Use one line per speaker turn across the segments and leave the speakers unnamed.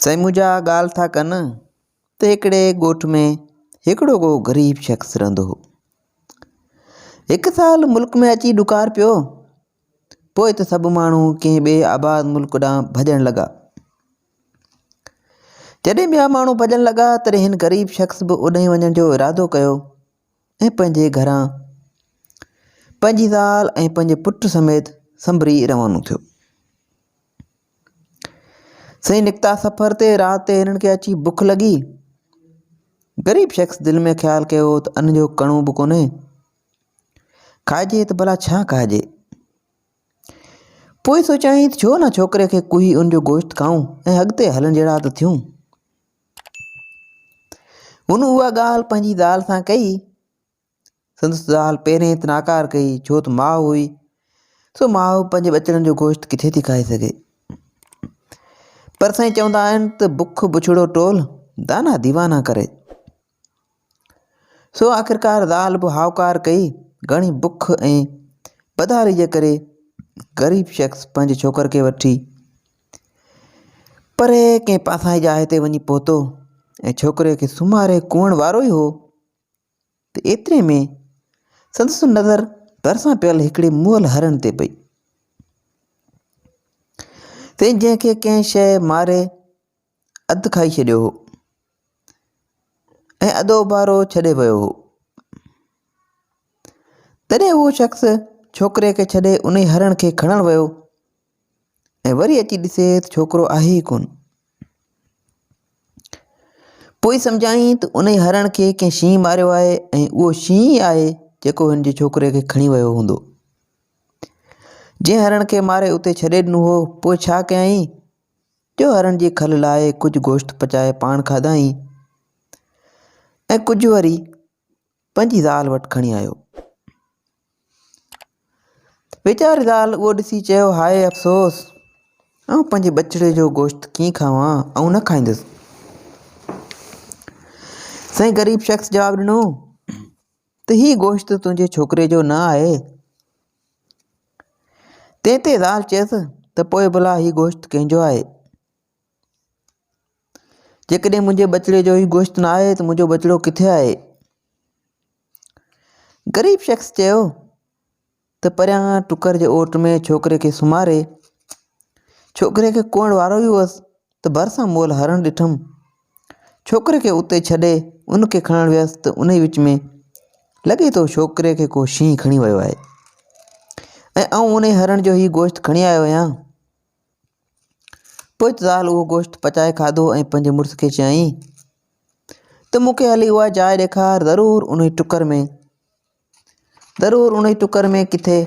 سائين منهنجا ڳالهه ٿا ڪن ته هڪڙي ڳوٺ ۾ هڪڙو ڪو غريب شخص رهندو هو. هڪ سال ملڪ ۾ اچي ڏڪار پيو. پوء ته سڀ ماڻهو ڪنهن ٻئي آباد ملڪ ڏانهن ڀڄڻ لڳا. جڏهن ٻيا ماڻهو ڀڄڻ لڳا تڏهن هن غريب شخص به اوڏانهن وڃڻ جو ارادو ڪيو. ۽ پنهنجي گهران پنهنجي زال ۽ پنهنجي پٽ سميت سنبري روانو ٿيو. سائين نڪتا سفر تي رات تي هنن کي اچي بک لڳي. غريب شخص دل ۾ خيال ڪيو ته ان جو ڪڻو به ڪونهي. کائجي ته ڀلا ڇا کائجي؟ پوء سوچيائين ته ڇو نه ڇوڪري کي ڪوهي ان جو گوشت کائون ۽ اڳتي هلڻ جهڙا ته ٿيون. هن اها ڳالهه پنهنجي زال سان ڪئي. سندس زال پهرين ته ناڪار ڪئي ڇو ته ماء هئي. سو ماء پنهنجي ٻچڙن جو گوشت ڪٿي ٿي کائي سگهي. پر سائين چوندا آهن ته بک بڇڙو ٽول، دانا ديوانا ڪري. سو آخرڪار زال به هائوڪار ڪئي، گهڻي بک ۽ بدحالي جي ڪري غريب شخص پنهنجي ڇوڪر کي وٺي پري ڪنهن پاسائين جاء تي وڃي پهتو ۽ ڇوڪري کي سمهاري ڪوئڻ وارو ئي هو ته ايتري ۾ سندس نظر ڀرسان پيل هڪڙي مئل هرڻ تي پئي تنهن جنهن کي ڪنهن شيء ماري اڌ کائي ڇڏيو هو ۽ اڌ اوبارو ڇڏي ويو هو. تڏهن اهو شخص ڇوڪري کي ڇڏي انهي هرڻ کي کڻڻ ويو ۽ وري اچي ڏسي ته ڇوڪرو آهي ئي ڪونه. پوء سمجهيائين ته انهي هرڻ کي ڪنهن شينهن ماريو آهي ۽ اهو شينهن ئي آهي جيڪو هن جي ڇوڪري کي کڻي ويو هوندو. جنهن هرڻ کي ماري اتي ڇڏي ڏنو هو پوء ڇا ڪيائين؟ جو هرڻ جي کل لاء ڪجهه گوشت پچائي پاڻ کاڌائين ۽ ڪجهه وري پنهنجي زال وٽ کڻي آيو. ويچاري زال اهو ڏسي چيو هاء افسوس! آئون پنهنجي ٻچڙي جو گوشت ڪيئن کاوان؟ آئون نه کائيندس. سائين غريب شخص جواب ڏنو. ته هي گوشت تنهنجي ڇوڪري جو نه آهي؟ تنهن تي زال چيس ته پوء ڀلا هي گوشت ڪنهن جو آهي؟ جيڪڏهن منهنجي ٻچڙي جو هي گوشت نه آهي ته منهنجو ٻچڙو ڪٿي آهي؟ غريب شخص چيو. ته پريان ٽڪر جي اوٽ ۾ ڇوڪري کي سمهاري، ڇوڪري کي ڪوئڻ وارو ئي هئس ته ڀرسان مئل هرڻ ڏٺم. ڇوڪري کي اتي ڇڏي ان کي کڻڻ ويس ته انهي وچ ۾ لڳي ٿو ڇوڪري کي ڪو شينهن کڻي ويو آهي ۽ آئون انهي هرڻ جو هي گوشت کڻي آيو آهيان. پوء زال اهو گوشت پچائي کاڌو ۽ پنهنجي مڙس کي چيائين ته مون کي هلي اها جاء ڏيکار ضرور انهي ٽڪر ۾. ضرور انهيء ٽڪر ۾ ڪٿي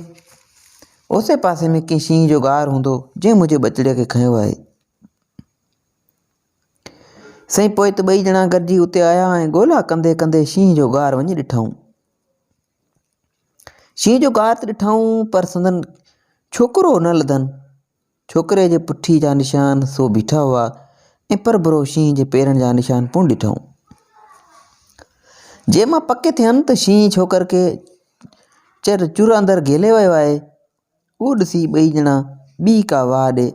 اوسي پاسي ۾ ڪنهن شينهن جو غار هوندو، جنهن منهنجي ٻچڙيء کي کنيو آهي. سائين پوء ته ٻئي ڄڻا گڏجي اتي آيا ۽ ڳولا ڪندي ڪندي شينهن جو غار وڃي ڏٺائون. شينهن جو غار ته ڏٺائون پر سندن ڇوڪرو نه لڌن. ڇوڪري جي پٺي جا نشان سو بيٺا هئا ۽ پر برو شينهن جي پيرن جا نشان پڻ ڏٺائون. جي مان پڪ ٿين ته شينهن ڇوڪر کي چر چور اندر گهلي ويو آهي، اهو ڏسي ٻئي ڄڻا ٻي ڪا واهه ڏي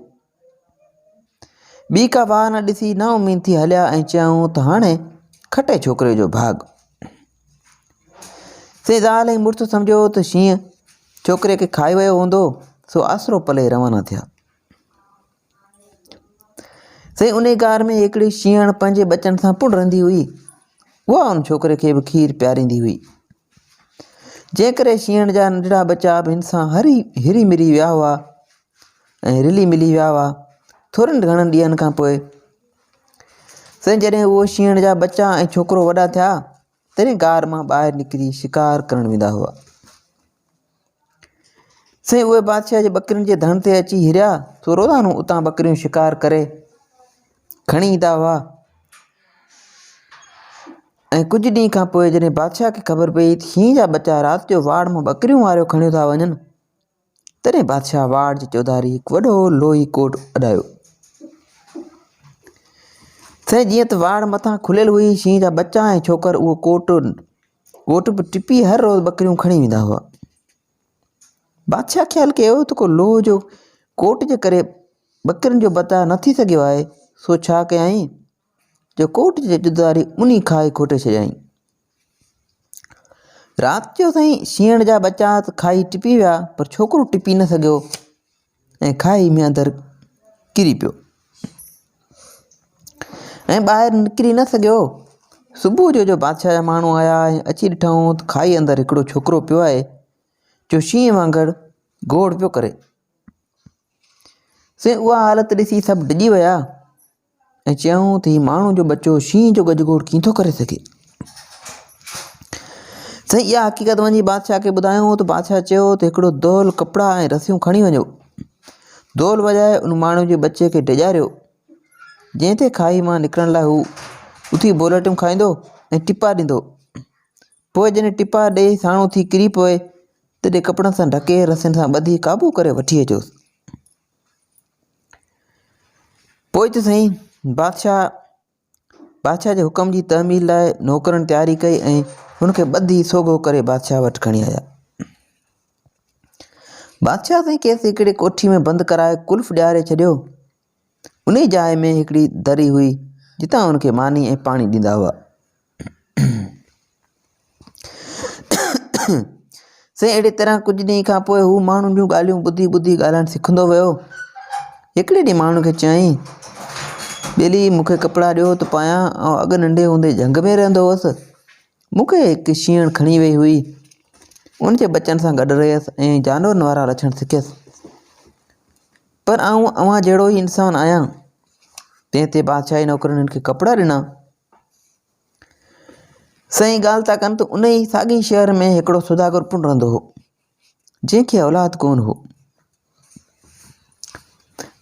ٻي ڪا واهه نه ڏسي نا اميد ٿي هليا ۽ چيائون ته هاڻي کٽي ڇوڪري جو ڀاڳ. سي زال ۽ مڙس سمجهيو هو ته شينهن ڇوڪري کي کائي ويو هوندو، سو آسرو پلي روانا ٿيا. سي انهي غار ۾ هڪڙي شينهڻ پنهنجي ٻچن سان پڻ رهندي هئي. اها ان ڇوڪري کي به کير پياريندي هئي. جنهن ڪري شينهڻ جا ننڍڙا ٻچا به هن سان هري هري مري ويا هئا ۽ رلي ملي ويا هئا. ٿورن گهڻن ڏينهن کان پوء سائين جڏهن اهو شينهن جا ٻچا ۽ ڇوڪرو وڏا ٿيا تڏهن غار مان ٻاهر نڪري شڪار ڪرڻ ويندا هئا سائين اهي بادشاهه جي ٻڪرين جي ڌڻ تي اچي هريا سو روزانو اتان ٻڪريون شڪار ڪري کڻي ايندا هئا ۽ ڪجهه ڏينهن کان پوء جڏهن بادشاهه کي خبر پئي ته شينهن جا ٻچا رات جو واڙ مان ٻڪريون واريو کڻيو ٿا وڃن تڏهن بادشاهه واڙ جي چوڌاري هڪ وڏو لوهي ڪوٽ اڏايو. سائين جيئن ته واڙ مٿان کليل هئي، شينهن جا ٻچا ۽ ڇوڪر اهو ڪوٽ ڪوٽ به ٽپي هر روز ٻڪريون کڻي ويندا هئا. بادشاهه خيال ڪيو ته ڪو لوهه جو ڪوٽ جي ڪري ٻڪرين جو بچاء نه ٿي سگهيو آهي، سو ڇا ڪيائين؟ جو ڪوٽ جي ڄدواري ٻني کائي کوٽي ڇڏيائين. رات جو سائين شينهن جا ٻچا ته کائي ٽپي ويا پر ڇوڪرو ٽپي نه سگهيو ۽ کائي ۾ اندر ڪري پيو ۽ ٻاهر نڪري نه سگهيو صبح جو جو بادشاهه جا ماڻهو آيا ۽ اچي ڏٺائون ته کائي اندر هڪڙو ڇوڪرو پيو آهي جو شينهن وانگر گوڙ پيو ڪري سي اها حالت ڏسي سڀ ڊڄي ويا ۽ چيائون ته هي ماڻهو جو ٻچو شينهن جو ڳجهڳوڙ ڪيئن ٿو ڪري سگهي؟ سائين اها حقيقت وڃي بادشاهه کي ٻڌايائون ته بادشاهه چيو ته هڪڙو دول ڪپڙا ۽ رسيون کڻي وڃو دول وڄائي ان ماڻهو جي ٻچي کي ڊيڄاريو جنهن تي کاهي مان نڪرڻ لاء هو اٿي بولٽيون کائيندو ۽ ٽپا ڏيندو پوء جڏهن ٽپا ڏيئي ساڻو ٿي ڪري پوي تڏهن ڪپڙن سان ڍڪي رسين سان ٻڌي قابو ڪري وٺي اچوس پوء ته سائين بادشاهه بادشاهه جي حڪم جي تعميل لاء نوڪرن تياري ڪئي ۽ هن کي ٻڌي سوگهو ڪري بادشاهه وٽ کڻي آيا بادشاهه سائين کيس هڪڙي ڪوٺي ۾ بند ڪرائي قلف ڏياري ڇڏيو انهي جاء ۾ هڪڙي دري هئي جتان هن کي ماني ۽ پاڻي ڏيندا هئا سائين اهڙي طرح ڪجهه ڏينهن کان پوء هو ماڻهن جون ڳالهيون ٻڌي ٻڌي ڳالهائڻ سکندو ويو هڪڙي ڏينهن ماڻهن کي چيائين ٻيلي مون کي ڪپڙا ڏيو ته پايان آئون اڳ ننڍي هوندي جهنگ ۾ رهندو هوس مون کي هڪ شينهن کڻي وئي هئي ان جي ٻچن سان گڏ رهيس ۽ جانورن وارا لڇڻ سکيس پر آئون اوهان جهڙو ئي انسان آهيان تنهن تي بادشاهي نوڪرن هن کي ڪپڙا ڏنا سائين ڳالهه ٿا ڪن ته انهي ساڳئي شهر ۾ هڪڙو سوداگر پڻ رهندو هو جنهن کي اولاد ڪونه هو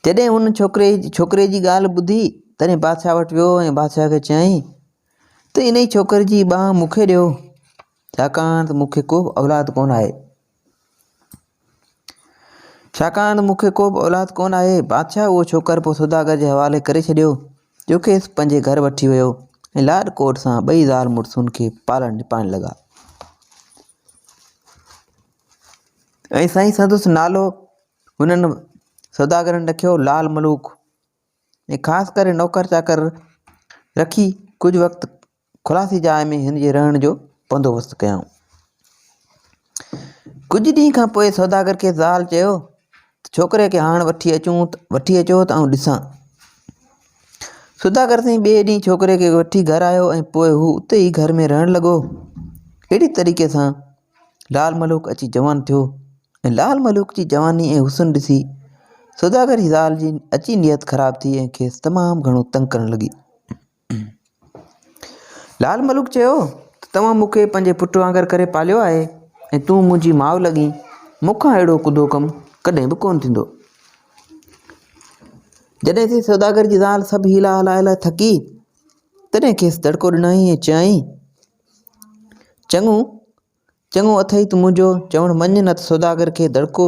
جڏهن هن ڇوڪري ڇوڪري جي ڳالهه ٻڌي تڏهن بادشاهه وٽ ويو ۽ بادشاهه کي چيائين ته انهي ڇوڪري جي ٻانهن مون کي ڏيو ڇاڪاڻ ته مون کي ڪو اولاد ڪونه آهي ڇاڪاڻ ته مون کي ڪوبه اولاد ڪونه آهي. بادشاهه اهو ڇوڪر پوء سوداگر جي حوالي ڪري ڇڏيو، جو کيس پنهنجي گهر وٺي ويو ۽ لاڏ ڪوڏ سان ٻئي زال مڙسن کي پالڻ نپائڻ لڳا ۽ سائين سندس نالو هنن سوداگرن رکيو لال ملوڪ ۽ خاص ڪري نوڪر چاڪر رکي ڪجهه وقت خلاصي جاء ۾ هن جي رهڻ جو بندوبست ڪيائون. ڪجهه ڏينهن کان پوء سوداگر کي زال چيو ته ڇوڪري کي هاڻ وٺي اچون وٺي اچو ته آئون ڏسان. سوداگر سائين ٻئي ڏينهن ڇوڪري کي وٺي گهر آيو ۽ پوء هو اتي ئي گهر ۾ رهڻ لڳو. اهڙي طريقي سان لال ملوڪ اچي جوان ٿيو ۽ لال ملوڪ جي جواني ۽ حسن ڏسي سوداگر جي زال جي اچي نيت خراب ٿي ۽ کيس تمام گهڻو تنگ ڪرڻ لڳي. لال ملوڪ چيو ته توهان مون کي پنهنجي پٽ وانگر ڪري پاليو آهي ۽ تون منهنجي ماء لڳين، مون کان اهڙو ڪڌو ڪم ڪڏهن به ڪونه ٿيندو. جڏهن سي سوداگر جي زال سڀ حيلا هلائي هلائي ٿڪي تڏهن کيس دڙڪو ڏنائين ۽ چيائين، چڱو چڱو اٿئي تون منهنجو چوڻ مڃ نه ته سوداگر کي دڙڪو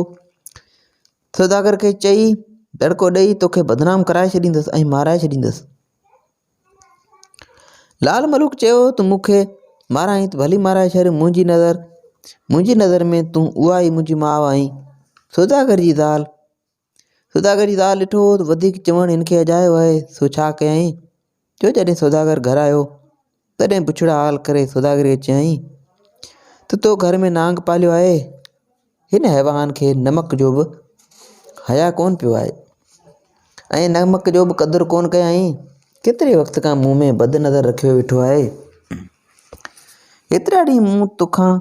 سوداگر کي چئي دڙڪو ڏئي توکي بدنام ڪرائي ڇڏيندس ۽ مارائي ڇڏيندس. لعل ملوڪ چيو ته مون کي مارائين ته ڀلي مارائي ڇڏ منهنجي نظر منهنجي نظر ۾ تون اها ئي منهنجي ماء آهين سوداگر جي زال سوداگر جي زال ڏٺو هو ته وڌيڪ چوڻ هن کي اجايو آهي سو ڇا ڪيائين جو جڏهن سوداگر گهر آيو تڏهن بڇڙا حال ڪري سوداگريء چيائين ته تو گهر ۾ نانگ پاليو آهي، هن حيوان کي نمڪ جو به حياء ڪونه پيو آهي ۽ نمڪ جو به قدر ڪونه ڪيائين، ڪيتري وقت کان مون ۾ بد نظر رکيو ويٺو آهي، هيترا ڏينهن مون تو کان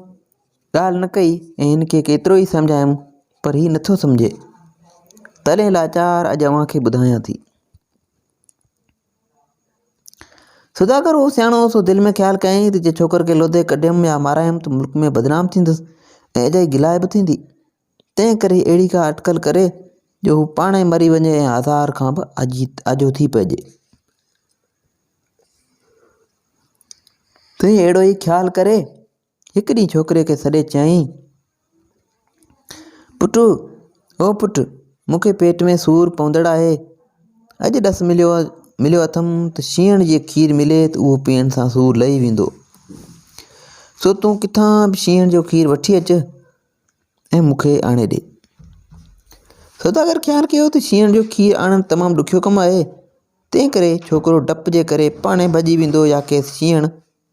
ڳالهه نه ڪئي ۽ هن کي ڪيترو ئي سمجهايم پر هي نه ٿو سمجهي، تڏهن لاچار اڄ اوهان کي ٻڌايان ٿي. سوداگر هو سياڻو هو، سو دل ۾ خيال ڪيائين ته جي ڇوڪر کي لوڌي ڪڍيم يا مارايم ته ملڪ ۾ بدنام ٿيندس ۽ اجائي گلاء به ٿيندي. تنهن ڪري اهڙي ڪا اٽڪل ڪري جو هو پاڻ ئي مري وڃي ۽ آزار کان به آجو ٿي پئجي. تنهن اهڙو ئي خيال ڪري هڪ ڏينهن ڇوڪري کي سڏي چيائين، پٽ او پٽ، مون کي پيٽ ۾ سور پوندڙ آهي. اڄ ڏس مليو مليو اٿم ته شينهڻ جي کير ملي ته اهو پيئڻ سان سور لهي ويندو. سو تون ڪٿان به شينهڻ جو کير وٺي اچ ۽ مون کي آڻي ڏي. سوداگر خيال ڪيو ته شينهڻ جو کير آڻڻ تمام ڏکيو ڪم آهي، تنهن ڪري ڇوڪرو ڊپ جي ڪري پاڻهي ڀڄي ويندو يا کيس شينهڻ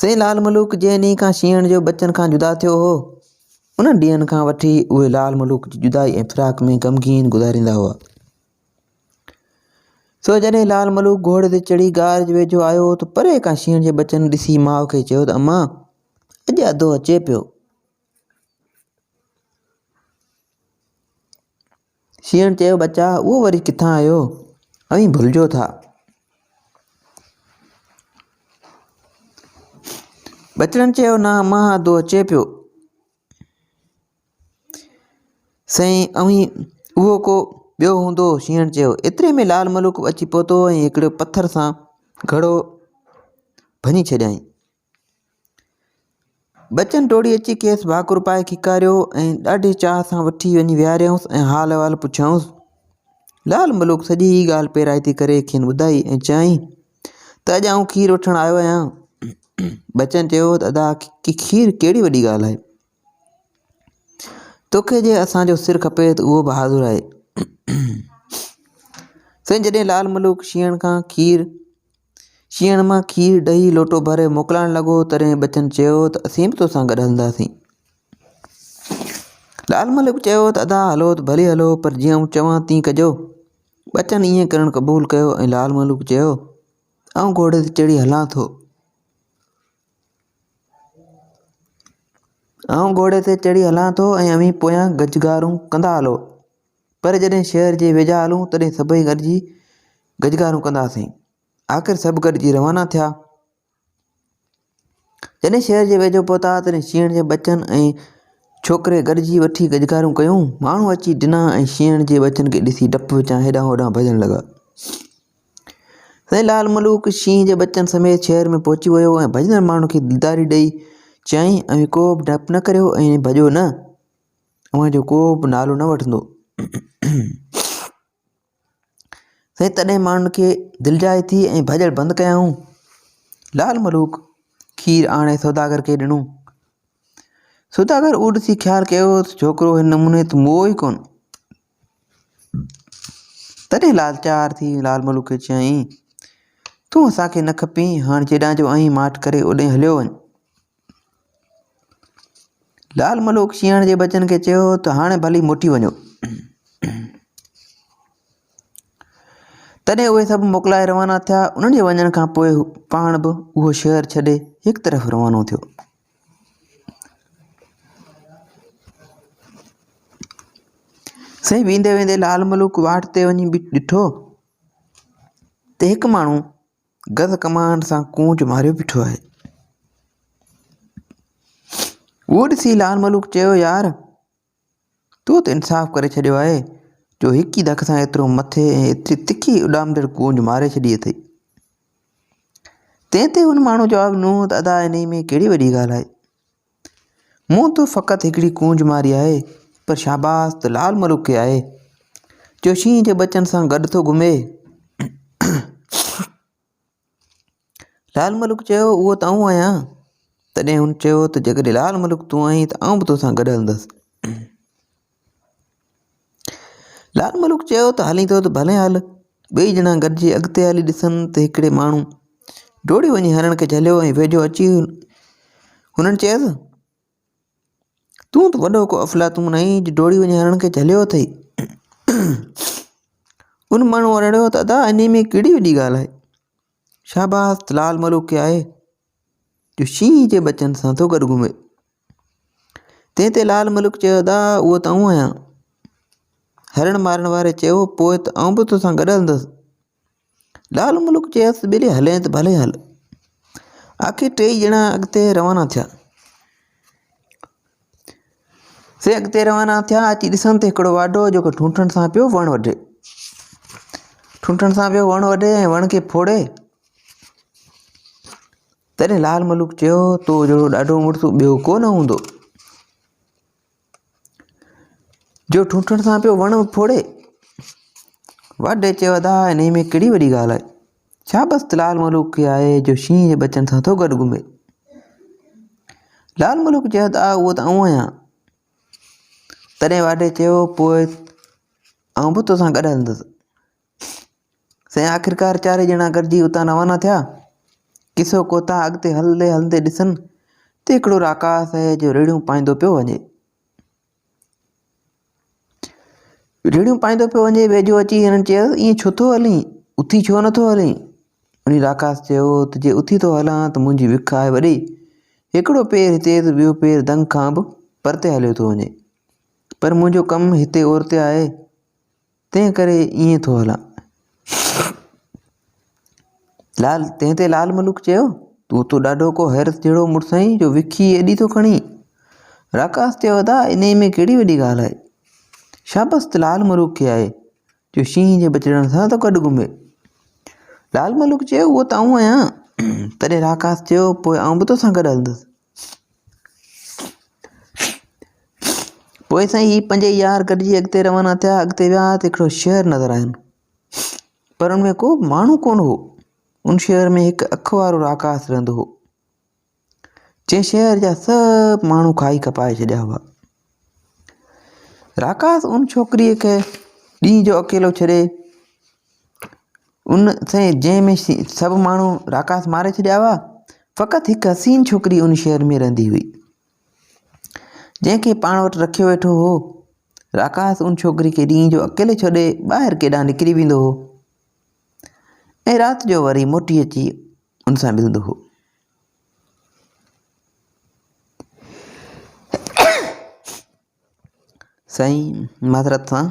سائين لال ملوڪ جنهن ڏينهن کان شينهن جو ٻچن کان جدا ٿيو هو، انهن ڏينهن کان وٺي اهي لال ملوڪ جي جدائي ۽ فراق ۾ غمگين گذاريندا هئا. سو جڏهن لال ملوڪ گهوڙي تي چڙهي غار جي ويجهو آيو ته پري کان شينهن جي ٻچن ڏسي ماء کي چيو ته امان اڄ اڌو اچي پيو. شينهن چيو، ٻچا اهو وري ڪٿان آيو؟ اوهين ڀلجو ٿا. ٻچڙن چيو، نه امان ادو اچي پيو. سائين اوهين اهو ڪو ٻيو هوندو. شينهن چيو. ايتري ۾ لال ملوڪ به اچي پهتو ۽ هڪڙي پٿر سان گهڙو ڀڃي ڇڏيائين. ٻچن ڊوڙي اچي کيس ڀاڪر پائي کيڪاريو ۽ ڏاڍي چاهه سان وٺي وڃي ويهاريائونس ۽ حال احوال پڇيائونس. لعل ملوڪ سڄي هي ڳالهه پيرائتي ڪري کين ٻڌائي ۽ چيائين ته اڄ آئون کير وٺڻ آيو آهيان. ٻچن چيو ته ادا کير ڪهڙي وڏي ڳالهه آهي. توکي جي اسان جو سر کپي ته اهو به حاضر آهي. سائين جڏهن لعل ملوڪ شينهن کان کير شينهن مان کير ڏهي لوٽو ڀري موڪلائڻ لڳو تڏهن ٻچن چيو ته اسين به توسان گڏ هلنداسين. لال ملڪ چيو ته ادا هلو ته ڀلي هلو پر جيئن آئون چوان تيئن ڪجو. ٻچن ائين ڪرڻ قبول ڪيو ۽ لال ملڪ چيو ته آئون گهوڙي تي چڙهي هلان ٿو. آئون گهوڙي تي چڙهي هلان ٿو ۽ اوهين پويان گجگارون ڪندا هلو. پر جڏهن شهر جي ويجها هلون تڏهن سڀئي گڏجي گجگارون ڪنداسين. آخر سڀ گڏجي روانا ٿيا. جڏهن شهر جي ويجهو پهتا تڏهن شينهڻ جي ٻچن ۽ ڇوڪري گڏجي وٺي گجگارون ڪيون. ماڻهو اچي ڊنا ۽ شينهڻ جي ٻچن کي ڏسي ڊپ وچان هيڏانهن هوڏانهن ڀڄڻ لڳا. سائين لال ملوڪ شينهن جي ٻچن سميت شهر ۾ پهچي ويو ۽ ڀڄندڙ ماڻهن کي دلداري ڏئي چيائين اوهين ڪوبه ڊپ نه ڪريو ۽ ڀڄو نه. اوهان جو ڪو به نالو نه وٺندو. سائين تڏهن ماڻهن کي دلجاء ٿي ۽ ڀڄڻ بند ڪيائون. لعل ملوڪ کير آڻي سوداگر کي ڏنو. سوداگر اهو ڏسي خيال ڪيو ته ڇوڪرو هن نموني ته موئو ئي ڪونه. تڏهن لاچار ٿي لعل ملوڪ کي چيائين، تون اسان کي نه کپين، هاڻ جيڏانهن جو آهين ماٺ ڪري اوڏانهن هليو وڃ. لال ملوڪ شينهڻ جي ٻچن کي چيو ته هاڻي ڀلي موٽي وڃو. تڏهن اهي سڀ موڪلائي روانا ٿيا انهن جي وڃڻ کان پوء پاڻ به اهو شهر ڇڏي هڪ طرف روانو ٿيو سائين ويندي ويندي لال ملوڪ واٽ تي وڃي ڏٺو ته هڪ ماڻهو گز ڪمان سان ڪونج ماريو بيٺو آهي. اهو ڏسي لال ملوڪ چيو، يار! تو ته انصاف ڪري ڇڏيو آهي، جو هڪ ئي دڪ سان ايترو مٿي ۽ ايتري تکي اڏامندڙ ڪونج ماري ڇڏي اٿئي. تنهن تي هن ماڻهوء جواب ڏنو ته ادا انهيء ۾ ڪهڙي وڏي ڳالهه آهي. مون تون فقط هڪڙي ڪونج ماري آهي، پر شاباس ته لال ملوڪ کي آهي، جو شينهن جي ٻچن سان گڏ ٿو گهمي. لال ملوڪ چيو، اهو ته آئون آهيان. تڏهن هن چيو ته جيڪڏهن لال ملوڪ تون آهين ته آئون به توسان گڏ هلندس. لال ملوڪ چيو ته هلين ٿو ته ڀلي هل. ٻئي ڄڻا گڏجي اڳتي هلي ڏسن ته هڪڙي ماڻهو ڊوڙي وڃي هرڻ کي جهليو ۽ ويجهو اچي هنن چيس، تون ته وڏو ڪو افلاطون آهين جو ڊوڙي وڃي هرڻ کي جهليو اٿئي. ان ماڻهوء رڙيو ته ادا انهيء ۾ ڪهڙي وڏي ڳالهه آهي. شاباس ته لال ملوڪ کي آهي، جو شينهن جي ٻچن سان ٿو گڏ گهمي. تنهن تي لال ملوڪ چيو، ادا اهو ته آئون آهيان. هرڻ مارڻ واري چيو، پوء ته آئون به توسان گڏ هلندس. لال ملوڪ چيس، ٻلي هلين ته ڀلي هل. آخر ٽيئي ڄڻا اڳتي روانا ٿيا. سي اڳتي روانا ٿيا اچي ڏسن ته هڪڙو واڍو جيڪو ٺونٺن سان پيو وڻ وڍي ٺونٺن سان پيو وڻ وڍي ۽ وڻ کي ڦوڙي تڏهن لال ملوڪ چيو تو جهڙو ڏاڍو مڙس ٻيو ڪو نه هوندو جو ٺونٺن سان پيو وڻ ڦوڙي واڍي چيو ادا انهي ۾ ڪهڙي وڏي ڳالهه آهي ڇا بس لال ملوڪ ئي آهي جو شينهن جي ٻچن سان ٿو گڏ گهمي؟ لال ملوڪ چيو ته آء اهو ته آئون آهيان. تڏهن واڍي چيو پوء آئون به توسان گڏ هلندس. سائين آخرڪار چارئي ڄڻا گڏجي اتان روانا ٿيا. قصو ڪوتا اڳتي هلندي هلندي ڏسن ته هڪڙو راڪاس آهي جو ريڙهيون پائيندو پيو وڃي. ريڙهيون پائيندو پيو وڃي، ويجهو اچي هنن چيو، ائين ڇو ٿو هلين؟ اٿي ڇو نه ٿو هلين؟ انهي راڪاس چيو ته جي اٿي ٿو هلان ته منهنجي وک آهي وڏي، هڪڙو پير هتي ته ٻيو پير دنگ کان به پرتي هليو ٿو وڃي. پر منهنجو ڪم هتي اورتي آهي. تنهن ڪري ائين ٿو هلان. لال، تنهن تي لال ملوڪ چيو، تون اتو ڏاڍو ڪو حيرت جهڙو مڙس آهين جو وکي ايڏي ٿو کڻين. راڪاس چيو، ادا، انهيء ۾ ڪهڙي وڏي ڳالهه آهي. شابس ته لال ملوڪ کي آهي، جو شينهن جي ٻچڙن سان ٿو گڏ گهمي. لال ملوڪ چيو، اهو ته آئون آهيان. تڏهن راڪاس چيو، پوء آئون به توسان گڏ هلندس. پوء سائين هي پنج يار گڏجي اڳتي روانا ٿيا اڳتي ويا ته هڪڙو شهر نظر آيم پر ان ۾ ڪو به ماڻهو ڪونه هو ان شهر ۾ هڪ اک وارو راڪاس رهندو هو جنهن شهر جا سڀ ماڻهو کائي کپائي ڇڏيا هئا راڪاس ان ڇوڪريء کي ڏينهن جو اڪيلو ڇڏي ان سين جنهن ۾ سڀ ماڻهو راڪاس ماري ڇڏيا هئا فقط هڪ حسين ڇوڪري ان شهر ۾ رهندي هئي جنهن کي پاڻ وٽ رکيو ويٺو هو راڪاس ان ڇوڪري کي ڏينهن جو اڪيلي ڇڏي ٻاهر ڪيڏانهن نڪري ويندو هو ۽ رات جو وري موٽي اچي ان سان ملندو هو سائين معذرت سان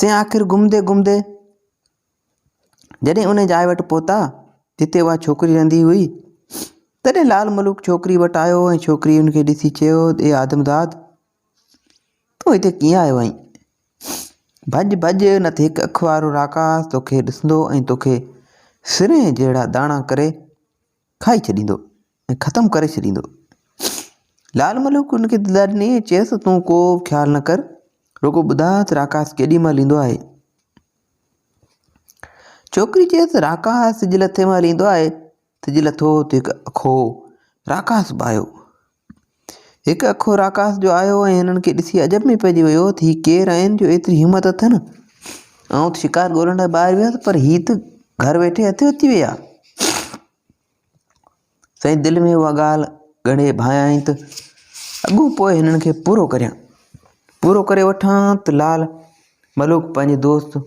سين آخر گهمندي گهمندي جڏهن ان جاء وٽ پهتا جتي اها ڇوڪري رهندي هئي تڏهن لال ملوڪ ڇوڪري وٽ آيو ۽ ڇوڪري ان کي ڏسي چيو اي آدمزاد تون هتي ڪيئن آيو آهين؟ ڀڄ ڀڄ، نه ته هڪ اک وارو راڪاس توکي ڏسندو ۽ توکي سرنهن جهڙا داڻا ڪري کائي ڇڏيندو ۽ ختم ڪري ڇڏيندو. لال ملوڪ هن کي دد ڏني ۽ چيس ته تون ڪو به خيال نه ڪر، رڳو ٻڌاء ته راڪاس ڪيڏي مهل ايندو آهي. ڇوڪري چيس ته راڪاس سج لٿي مهل ايندو آهي، سج لٿو ته هڪ اکو راڪاس به آيو. هڪ اکو راڪاس جو آيو ۽ هنن کي ڏسي عجب ۾ پئجي ويو ته هي ڪير آهن جو ايتري همت اٿن. آئون ته شڪار ڳولڻ لاء ٻاهر ويو هوس پر هي ته گهر ويٺي هٿ اچي ويا. سائين دل ۾ اها ڳالهه ڳڙهي ڀانيائين ته اڳو پوء هنن کي پورو ڪريان. پورو ڪري وٺان ته لال ملوڪ پنهنجي دوست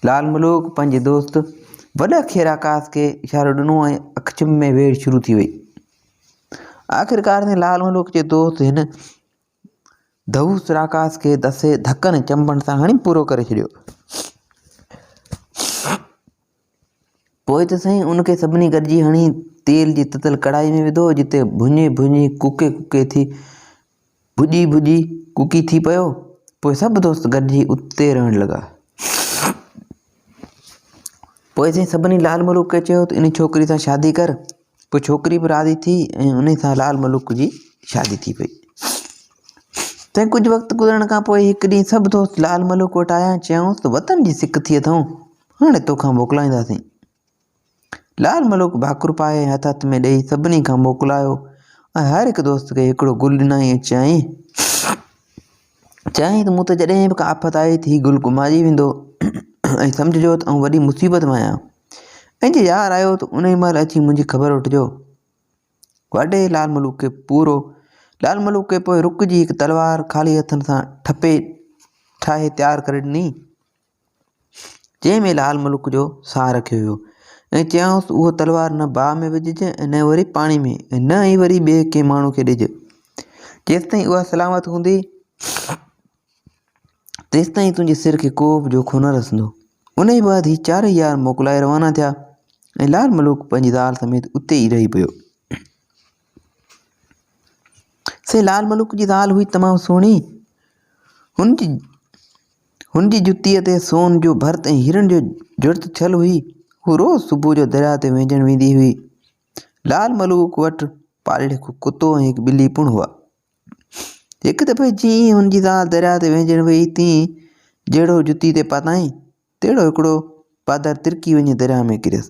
لال ملوڪ پنهنجي دوست وڏا کيرا ڪاس کي اشارو ڏنو ۽ اک چم ۾ ويڙهه شروع ٿي وئي. آخرڪار ۾ لال ملوڪ جي دوست هن دهوس راڪاس کي دسي ڌڪن ۽ چنبن سان هڻي پورو ڪري ڇڏيو. پوء ته سائين ان کي سڀني گڏجي هڻي تيل جي تتل ڪڙاهي ۾ وڌو جتي ڀڃي ڀڃي ڪوڪي ڪوڪي ٿي ڀڄي ڀڄي ڪوڪي ٿي پيو پوء سڀ دوست گڏجي اتي رهڻ لڳا پوء سائين سڀني لال ملوڪ کي چيو ته ان ڇوڪري سان شادي ڪر پوء ڇوڪري به راضي ٿي ۽ انهي سان لال ملوڪ جي شادي ٿي پئي. تنهن ڪجهه وقت گذرڻ کان پوء هڪ ڏينهن سڀ دوست لال ملوڪ وٽ آيا ۽ چيائونس ته وطن جي سڪ ٿي اٿئون، هاڻي توکان موڪلائينداسين. لال ملوڪ ڀاڪر پائي ۽ هٿ هٿ ۾ ڏيئي سڀني کان موڪلايو ۽ هر هڪ دوست کي هڪڙو گل ڏنائين ۽ چيائين، چيائين ته مون تي جڏهن به ڪا آفت آئي ته هي گل ڪمائجي ويندو ۽ سمجهجو ته آئون وڏي مصيبت ۾ آهيان ۽ جي يار آيو ته انهي مهل اچي منهنجي خبر وٺجو. واڍي لال ملوڪ کي پورو لال ملوڪ کي پوء رڪ جي هڪ تلوار خالي هٿن سان ٺپي ٺاهي تيار ڪري ڏني. جنهن ۾ لال ملڪ جو ساهه رکيو ويو ۽ چيائونس ته اهو تلوار نه باهه ۾ وجهج ۽ نه وري پاڻي ۾ ۽ نه ئي وري ٻئي ڪنهن ماڻهو کي ڏج جيستائين اها سلامت هوندي تيستائين تنهنجي سر کي ڪو به جوکو نه رسندو ان جي بعد هي چارئي يار موڪلائي روانا ٿيا ۽ لال ملوڪ پنهنجي زال سميت اتي ئي رهي پيو سي لال ملوڪ جي زال هئي تمام سهڻي. هن جي هن جي جتيء تي سون جو ڀرت ۽ هيرن جو جڙت ٿيل هئي. هو روز صبح جو درياء تي وهنجڻ ويندي هئي. لال ملوڪ وٽ پاليل هڪ ڪتو ۽ هڪ ٻلي پڻ هئا. هڪ دفعي جيئن ئي هن جي زال درياء تي وهنجڻ ويئي تيئن جهڙو جتي تي پاتائين، تهڙو هڪڙو پادر ترڪي وڃي درياهه ۾ ڪريس.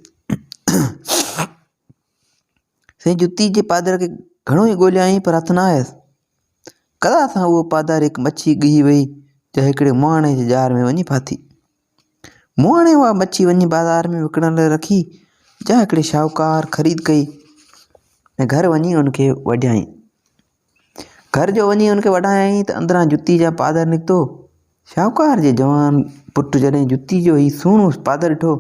سائين جتي جي پادر کي گهڻو ئي ڳوليائين پر هٿ نه آيس. قضا سان اهو پادر هڪ مڇي ڳهي وئي جا هڪڙي مهاڻي جي ڄار ۾ وڃي ڦاٿي. مهاڻي اها مڇي وڃي بازار ۾ وڪڻڻ لاء رکي جا هڪڙي شاهوڪار خريد ڪئي ۽ گهر وڃي ان کي وڍيائين. گهر جو وڃي هن کي وڍايائين ته اندران جتي جا پادر نڪتو. شاهوڪار جي جوان پٽ جڏهن جتي جو هي سهڻو پادر ڏٺو،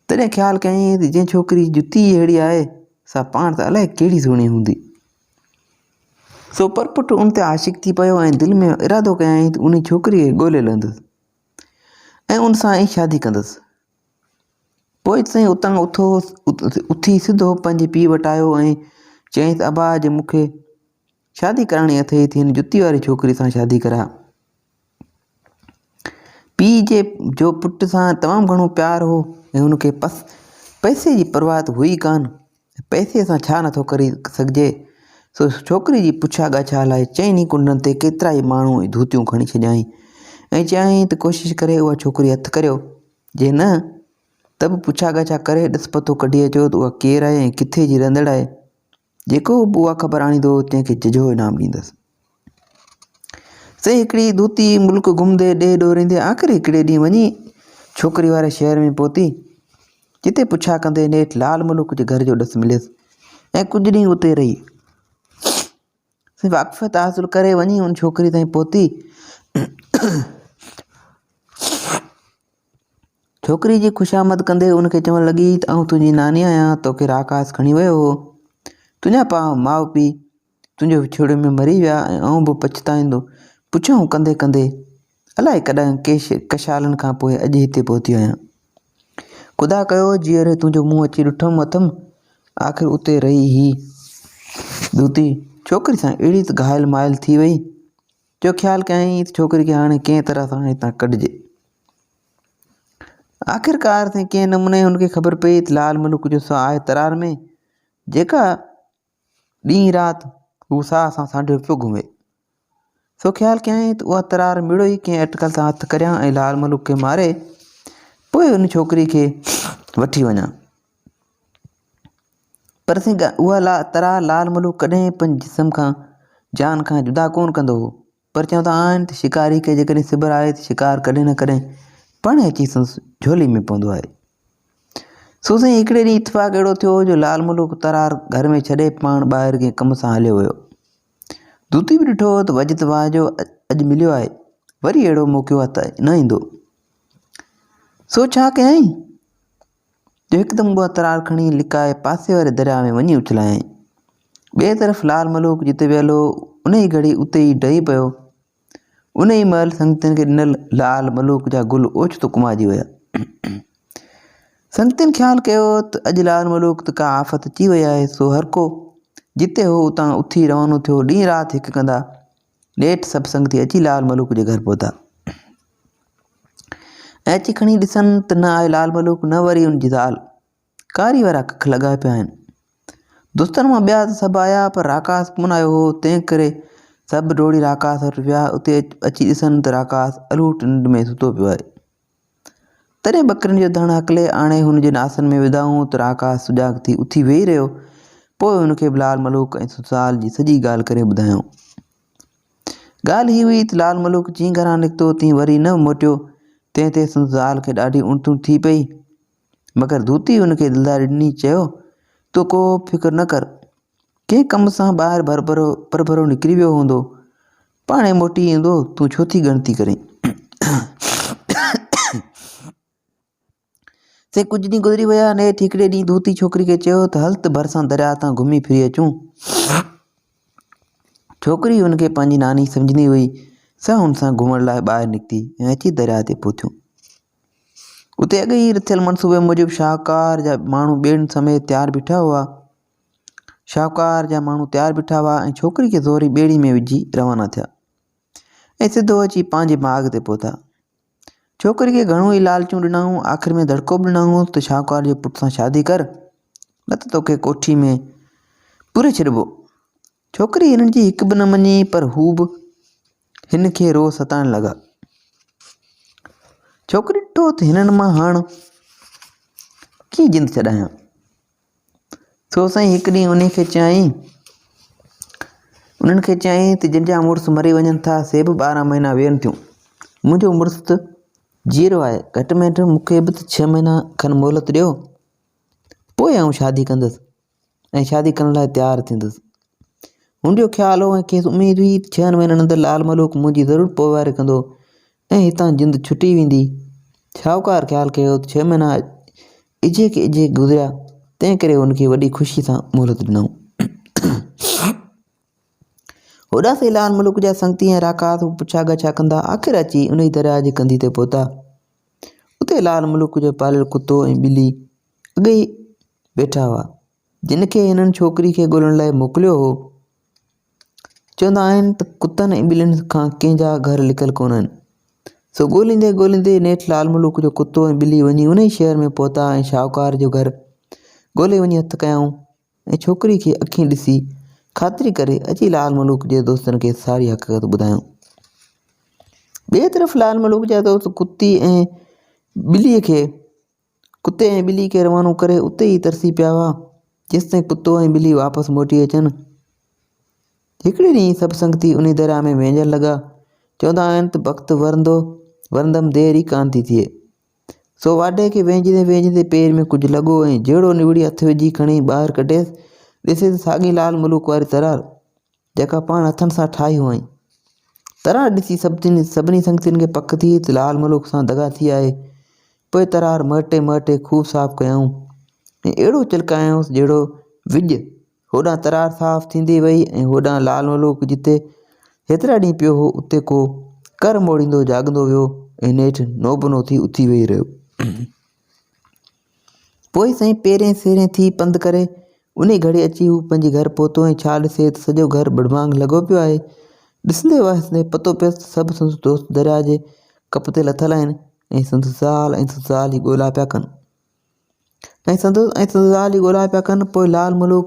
تڏهن خيال ڪيائين ته جنهن ڇوڪري جي جتي ئي اهڙي آهي، سا پاڻ ته الائي ڪهڙي سهڻي هوندي. سو پرپٽ ان تي عاشق ٿي پيو ۽ دل ۾ ارادو ڪيائين ته انهي ڇوڪريء کي ڳولي لهندس ۽ ان سان ئي شادي ڪندس. پوء سائين اتان اٿو اٿي سڌو پنهنجي پيء وٽ آيو ۽ چيائينس ابا جي مون کي شادي ڪرائڻي اٿئي ٿي هن جتي واري ڇوڪري سان شادي ڪراء. پيء جي جو پٽ سان تمام گهڻو پيار هو ۽ هن کي پئسي جي پرواهه ته هئي ڪانه. پئسي سان ڇا نٿو ڪري سگهجي؟ سو ڇوڪري جي پڇا ڳاڇا لاء چئن ئي ڪنڊن تي ڪيترا ئي ماڻهو ۽ ڌوتيون کڻي ڇڏيائين ۽ چيائين ته ڪوشش ڪري اها ڇوڪري هٿ ڪريو، جي نه ته به پڇا ڳاڇا ڪري ڏس پتو ڪڍي اچو ته اها ڪير آهي ۽ ڪٿي جي رهندڙ آهي. جيڪو به اها خبر آڻيندو تنهن کي ججهو انعام ڏيندس. سي هڪڙي دوتي ملڪ گهمندي ڏيهه ڏوريندي آخر هڪڙي ڏينهن وڃي ڇوڪري واري شهر ۾ پهتي جتي پڇا ڪندي نيٺ لال ملوڪ جي گهر جو ڏس مليس ۽ ڪجهه ڏينهن اتي رهي سي واقفيت حاصل ڪري وڃي ان ڇوڪري تائين پهتي ڇوڪري جي خوش آمد ڪندي ان کي چوڻ لڳي ته آئون تنهنجي ناني آهيان توکي راڪاس کڻي ويو هو تنهنجا پاء ماء پيء تنهنجي وڇوڙي ۾ مري ويا ۽ آئون به پڇتائيندو پڇائون ڪندي ڪندي الائي ڪڏهن ڪيش ڪشالن کان پوء اڄ هتي پهتي آهيان. خدا ڪيو جيئري تنهنجو منهن اچي ڏٺم اٿم آخر اتي رهي هي ڏوتي ڇوڪري سان اهڙي ته گهائل مائل ٿي وئي جو خيال ڪيائين ته ڇوڪري کي هاڻي ڪنهن طرح سان هتان ڪڍجي. آخرڪار سائين ڪنهن نموني هن کي خبر پئي ته لال ملوڪ جو ساهه آهي ترار ۾ جيڪا ڏينهن رات هو ساهه سان سانڍيو پيو گهمي. سو خيال ڪيائين ته اها ترار مڙئي ئي ڪنهن اٽڪل سان هٿ ڪريان ۽ لال ملوڪ کي ماري پوء ان ڇوڪري کي وٺي وڃان. پر سنگهه اها ترار لال ملوڪ ڪڏهن پنهنجي جسم کان، جان کان، جدا ڪونه ڪندو هو. پر چون ته آهن ته شڪاري کي جيڪڏهن سٻر آهي ته شڪار ڪڏهن نه ڪڏهن پاڻهي اچي سندس جهولي ۾ پوندو آهي. سو سائين هڪڙي ڏينهن اتفاق اهڙو ٿيو جو لال ملوڪ ترار گهر ۾ ڇڏي پاڻ ٻاهر ڪنهن ڪم سان هليو ويو. دوتي به ڏٺو ته وجد واهه جو اڄ مليو آهي، وري اهڙو موقعو هٿ نه ايندو. سو ڇا ڪيائين؟ جو هڪدم اها ترار کڻي لڪائي پاسي واري درياء ۾ وڃي اڇلايائين. ٻئي طرف لال ملوڪ جتي ويل هو، انهيء گهڙي اتي ئي ڊهي پيو. انهيء مهل سنگتين کي ڏنل لال ملوڪ جا گل اوچتو ڪمائجي ويا. سنگتين خيال ڪيو ته اڄ لال ملوڪ تي ڪا آفت اچي وئي آهي، سو هرڪو جتي هو اتان اٿي روانو ٿيو، ڏينهن رات هڪ ڪندا. ڏيٺ سڀ سنگتي اچي لال ملوڪ جي گهر پهتا ۽ اچي کڻي ڏسن ته نه آء لال ملوڪ نه وري ان جي زال ڪاري وارا ڪک لڳا پيا آهن دوستن مان ٻيا ته سڀ آيا پر راڪاس ڪون آيو هو تنهن ڪري سڀ ڊوڙي راڪاس وٽ ويا اتي اچي ڏسن ته راڪاس الوٽ ننڊ ۾ ستو پيو آهي تڏهن ٻڪرين جو ڌڻ هڪلي آڻي هن جن آسن ۾ وڌائون ته راڪاس سجاڳ ٿي اٿي ويهي رهيو. پوء هن کي به لال ملوڪ ۽ سسرال جي سڄي ڳالهه ڪري ٻڌايائون. ڳالهه هي هئي ته لال ملوڪ جيئن گهران نڪتو تيئن وري نه موٽيو، تنهن تي سندس زال کي ڏاڍي اڻتون ٿي پئي. مگر ڌوتي هن کي دلداري ڏني، چيو، تون ڪو به فڪر نه ڪر. ڪنهن ڪم سان ٻاهر ڀرڀرو پرڀرو نڪري ويو هوندو. پاڻهي موٽي ايندو، تون ڇو ٿي ڳڻتي ڪرين. سي ڪجهه ڏينهن گذري ويا ۽ نيٺ هڪڙي ڏينهن ڌوتي ڇوڪري کي چيو ته هل ته ڀرسان درياء تان گهمي ڦري اچون. ڇوڪري هن کي پنهنجي ناني سمجهندي هئي، سا هن سان گهمڻ لاء ٻاهر نڪتي ۽ اچي درياء تي پهتيون. اتي اڳ ئي رٿيل منصوبي موجب شاهوڪار جا ماڻهو ٻيڙين سميت تيار بيٺا هئا. شاهوڪار جا ماڻهو تيار بيٺا هئا ۽ ڇوڪري کي زوري ٻيڙي ۾ وجهي روانا ٿيا ۽ سڌو اچي پنهنجي باغ تي پهتا ڇوڪري کي گهڻو ئي لالچون ڏنائون آخر ۾ دڙڪو به ڏنائون ته شاهوڪار جي پٽ سان شادي ڪر نه ته توکي ڪوٺي ۾ پوري ڇڏبو ڇوڪري هنن جي هڪ به نه مڃي پر هو به هن کي روز ستائڻ لڳا ڇوڪري ڏٺو ته هنن مان هاڻ ڪيئن جند ڇڏايان سو سائين هڪ ڏينهن انهي کي چيائين، انهن کي چيائين ته جن جا مڙس مري وڃن ٿا سي به ٻارهن مهينا ويهن ٿيون. منهنجو مڙس ته جيئرو آهي، گهٽ ۾ گهٽ مون کي به ته ڇهه مهينا کن مهلت ڏيو، پوء آئون شادي ڪندس ۽ شادي ڪرڻ لاء تيار ٿيندس. هن جو خيال هو ۽ کيس اميد هئي ته ڇهن مهينن اندر لعل ملوڪ منهنجي ضرور پوئواري ڪندو. ۽ هتان جند ڇٽي ويندي. شاهوڪار خيال ڪيو ته ڇهه مهينا اجهي کي اجهي گذريا، تنهن ڪري هن کي وڏي خوشيء سان مهلت ڏنائون. هوڏانهن سين لال ملڪ جا سنگتي ۽ راڪاس به پڇا ڳاڇا ڪندا آخر اچي انهيء درياهه جي ڪنڌيء تي پهتا. اتي لال ملڪ جو پاليل ڪتو ۽ ٻلي اڳي ئي ويٺا هئا. جن کي هنن ڇوڪري کي ڳولڻ لاء موڪليو هو، چوندا آهن ته ڪتن ۽ ٻلين کان ڪنهن جا گهر لڪل ڪونهن. سو ڳوليندي ڳوليندي نيٺ لال ملوڪ جو ڪتو ۽ ٻلي وڃي انهي شهر ۾ پهتا ۽ شاهوڪار جو گهر ڳولي وڃي هٿ ڪيائون ۽ ڇوڪري کي اکين ڏسي خاطري ڪري اچي لال ملوڪ جي دوستن کي ساري حقيقت ٻڌايائون. ٻئي طرف لال ملوڪ جا دوست ڪتي ۽ ٻلي کي ڪتي ۽ ٻلي کي روانو ڪري اتي ئي ترسي پيا هئا، جيستائين ڪتو ۽ ٻلي واپس موٽي اچن. هڪڙي ڏينهن سڀ سنگتي انهي درياء ۾ وهنجڻ لڳا. چوندا آهن ته بخت ورندو ورندم دير ئي ڪانه ٿي ٿئي. سو واڍي کي وهنجندي وهنجندي پير ۾ ڪجهه لڳو ۽ جهڙو نوڙي هٿ وجهي کڻي ٻاهر ڪڍيس، ڏسي ته ساڳي لال ملوڪ واري ترار. جيڪا پاڻ هٿن سان ٺاهي هئائين. ترار ڏسي سڀني سنگتين کي پڪ ٿي ته لال ملوڪ سان دغا ٿي آهي. پوء ترار مهٽي مهٽي خوب صاف ڪيائون ۽ اهڙو چلڪايائونس جهڙو وڄ. هوڏانهن ترار صاف ٿيندي وئي ۽ هوڏانهن لال ملوڪ جتي هيترا ڏينهن پيو هو اتي ڪو ڪر موڙيندو جاڳندو ويو ۽ نيٺ نوبنو ٿي اٿي ويهي رهيو. پوء سائين پيرين سيرين ٿي پنڌ ڪري، انهي گهڙي اچي هو پنهنجي گهر پهتو ۽ ڇا ڏسي ته سڄو گهر ٻڙڀاڱ لڳو پيو آهي. ڏسندي وهسندي پتو پيس ته سڀ سندس دوست درياء جي ڪپ تي لٿل آهن ۽ سندس زال ۽ سندس زال ئي ڳولا پيا ڪن. ۽ سندس ۽ سندس زال ئي ڳولا پيا ڪن. پوء لعل ملوڪ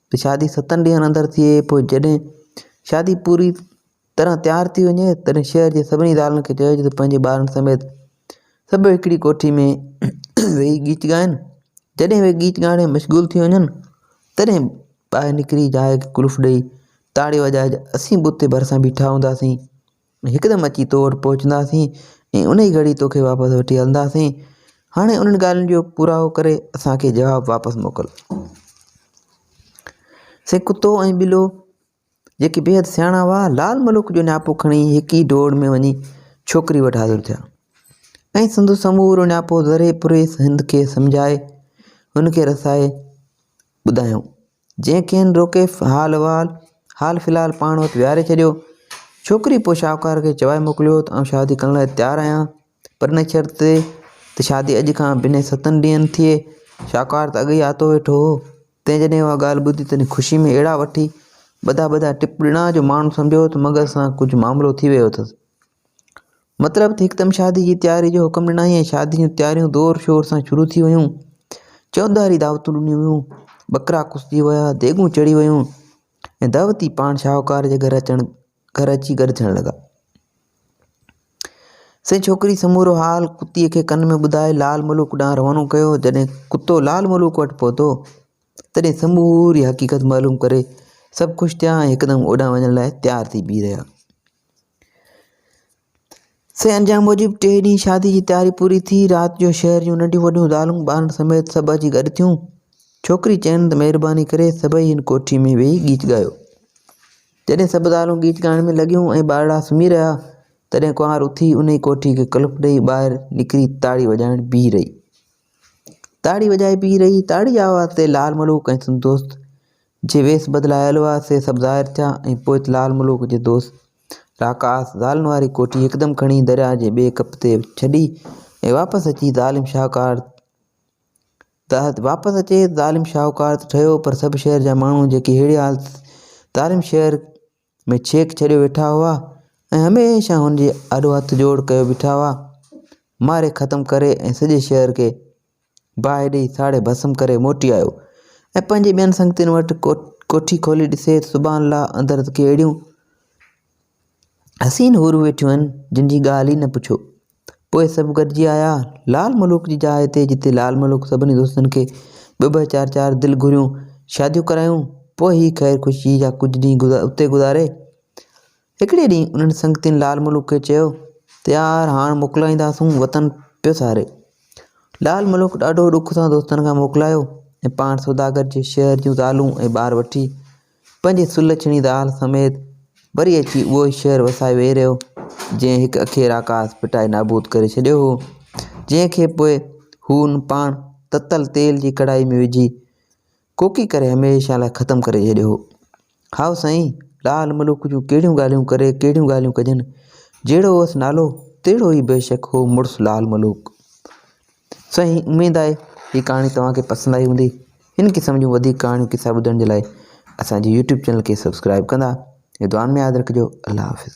ته شادي ستن ڏينهن اندر ٿئي پوء جڏهن شادي پوري طرح تيار ٿي وڃي تڏهن شهر جي سڀني زالن کي چئجي ته پنهنجي ٻارن سميت سڀ هڪڙي ڪوٺي ۾ ويهي ڳيچ ڳائن جڏهن اهي ڳيچ ڳائڻ ۾ مشغول ٿي وڃن تڏهن ٻاهر نڪري جاء کي قلف ڏئي تاڙي وڄائجي اسين به اتي ڀرسان بيٺا هونداسين هڪدم اچي تو وٽ پهچنداسين ۽ ان ئي گهڙي توکي واپس وٺي هلنداسين. هاڻي انهن ڳالهين جو پوراهو ڪري اسان کي جواب واپس موڪل. سي ڪتو ۽ ٻلو جيڪي بيحد سياڻا هئا، لال ملوڪ جو نياپو کڻي هڪ ئي ڊوڙ ۾ وڃي ڇوڪري وٽ حاضر ٿيا ۽ سندس سمورو نياپو ذري پريس هند کي سمجهائي هن کي رسائي ٻڌايائون. جنهن کين روڪي حال احوال حال في الحال پاڻ وٽ ويهاري ڇڏيو. ڇوڪري پوء شاهوڪار کي چوائي موڪليو ته آئون شادي ڪرڻ لاء تيار آهيان پر ان شرط تي ته شادي اڄ کان بنهه ستن ڏينهن ٿئي. شاهوڪار ته اڳ ئي آتو ويٺو هو، تنهن جڏهن اها ڳالهه ٻڌي تڏهن خوشي ۾ اهڙا وٺي ٻڌا ٻڌا ٽپ ڏنا جو ماڻهو سمجهيو ته مغز سان ڪجهه معاملو ٿي ويو اٿس. مطلب ته هڪدم شادي جي تياري جو حڪم ڏنائين ۽ شادي جون تياريون زور شور سان شروع ٿي ويون. چوڌاري دعوتون ڏنيون ويون، ٻڪرا ڪسجي ويا، ديڳون چڙهي ويون ۽ دعوتي پاڻ شاهوڪار جي گهر اچڻ گهر اچي گڏ ٿيڻ لڳا. سي ڇوڪري سمورو حال ڪتيء کي ڪن ۾ ٻڌائي لال ملوڪ ڏانهن روانو ڪيو. جڏهن ڪتو لال ملوڪ وٽ پهتو. تڏهن سموري حقيقت معلوم ڪري سڀ خوش ٿيا ۽ هڪدم اوڏانهن وڃڻ لاء تيار ٿي بيهي رهيا. سين انجام موجب ٽئين ڏينهن شادي جي تياري پوري ٿي. رات جو شهر جون ننڍيون وڏيون زالون ٻارن سميت سڀ اچي گڏ ٿيون. ڇوڪري چين ته مهرباني ڪري سڀئي هن ڪوٺي ۾ ويهي ڳيت ڳايو. جڏهن سڀ زالون ڳيت ڳائڻ ۾ لڳيون ۽ ٻارڙا سمهي رهيا، تڏهن ڪنوار اٿي انهي ڪوٺي کي قلف ڏيئي ٻاهر نڪري تاڙي وڄائڻ بيهي رهي. تاڙي وڄائي پيئي رهي، تاڙي آواز تي لال ملوڪ ۽ سندس دوست جي ويس بدلايل هئا سي سڀ ظاهر ٿيا ۽ پوء لال ملوڪ جي دوست راڪاس زالن واري ڪوٺي هڪدم کڻي درياء جي ٻئي ڪپ تي ڇڏي ۽ واپس اچي ظالم شاهوڪار واپس اچي ظالم شاهوڪار ته ٺهيو پر سڀ شهر جا ماڻهو جيڪي ههڙي حالت ظالم شهر ۾ ڇيڪ ڇڏيو ويٺا هئا ۽ هميشه هن جي آڏو هٿ جوڙ ڪيو بيٺا هئا. ماري ختم ڪري ۽ سڄي شهر کي باهه ڏيئي ساڙي ڀسم ڪري موٽي آيو ۽ پنهنجي ٻين سنگتين وٽ ڪوٺي کولي ڏسي ته سبحان الله اندر ته ڪي اهڙيون حسين حورون ويٺيون آهن جن جي ڳالهه ئي نه پڇو. پوء سڀ گڏجي آيا لال ملوڪ جي جاء تي جتي لال ملوڪ سڀني دوستن کي ٻه ٻه چار چار دل گهريون شاديون ڪرايون پوء هي خير خوشيء جا ڪجهه ڏينهن اتي گذاري. هڪڙي ڏينهن انهن سنگتين لال ملوڪ کي چيو ته يار هاڻ موڪلائينداسون وطن پيو ساري. لال ملوڪ ڏاڍو ڏک سان دوستن کان موڪلايو ۽ پاڻ سوداگر جي شهر جون زالون ۽ ٻار وٺي پنهنجي سلڇڻي زال سميت وري اچي اهو ئي شهر وسائي ويهي رهيو، جنهن هڪ اکيء راڪاس ڦٽائي نابود ڪري ڇڏيو هو، جنهن کي پوء هن پاڻ تتل تيل جي ڪڙائي ۾ وجهي ڪوڪي ڪري هميشه لاء ختم ڪري ڇڏيو هو. هائو سائين، لعل ملوڪ جون ڪهڙيون ڳالهيون ڪري ڪهڙيون ڳالهيون ڪجن، جهڙو هئس نالو تهڙو ئي بيشڪ هو مڙس لعل ملوڪ. سائين اميد آهي هي ڪهاڻي توهان کي پسند آئي هوندي هن قسم جون وڌيڪ ڪهاڻيون قصا ٻڌڻ جي لاء اسان جي يوٽيوب چينل کي سبسڪرائيب ڪندا ۽ دعائن ۾ ياد رکجو الله حافظ.